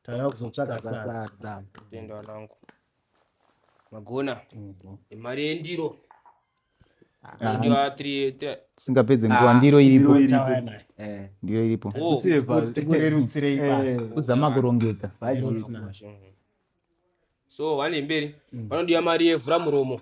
tava kuzotsvaga sadza tenda wanangu magona mhm. imari yendiro singapedze nguva ndiro iripo ndiro iripo tikurerutsirei basa kuzama kurongeka so vane mberi vanodiwa mari yevhura muromo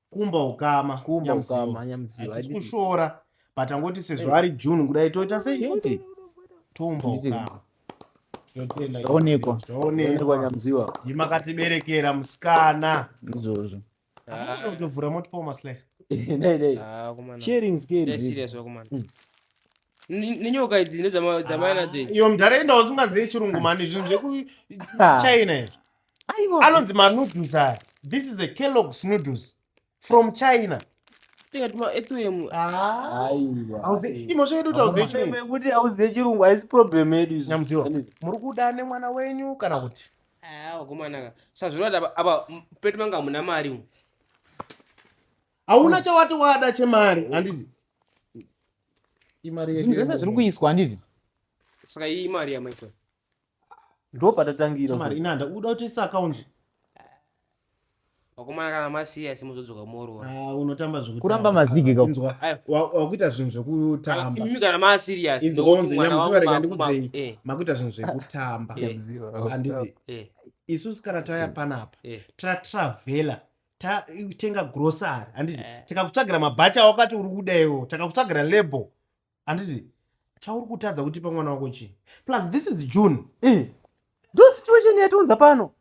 kumba ukama kumba ukama nyamziwa hatisi kushora but angoti sezvo ari june kudai toita sei kuti toumba ukama zvaonekwa zvaonekwa nyamziwa ndimakatiberekera musikana izvozvo utovhura ah. motipawo maslice ah, sharing scale serious wakumana hmm. nenyoka idzi ndedzamai nadzo idzi iyo mdhara enda usingazive chirungu mani zvinhu zvekuchina izvi anonzi manoodles aya this is a kellogs noodles from china imhosva yedu tauzeikuti auzive chirungu haisi problem yedu izonyamuziwa muri kuda nemwana wenyu kana kuti wagomanaka sazvinoda apa pedu manga muna mari u hauna chawati wada chemari handiti imari zvese zviri kuiswa handiti saka iyi imari yamaikoi ndopatatangira mari inanda uda kuti isa akaunzi vakomana kana masiya simo zodzoka morora ah, unotamba zvekuti kuramba mazigi ka inzwa wakuita zvinhu zvekutamba imi kana ma serious inzwa unzi nyamuziva rega ndikudzei eh. makuita zvinhu zvekutamba eh. handiti eh. isu sikana taya panapa ta travela tatenga grocery handiti takakutsvagira mabhacha wakati uri kuda iwo takakutsvagira label handiti chauri kutadza kuti pamwana wako chii plus this is june mm. ndo situation yatiunza pano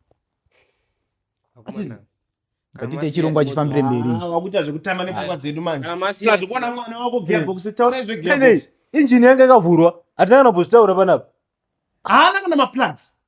ngatite chirongwa chifambire mberi ah, wakuita zvekutamba nepfungwa dzedu manje plus kuona mwana wako gearbox mm. taurai zvegearbox injini yanga ikavhurwa hatina kana kuzvitaura panapa haana kana maplugs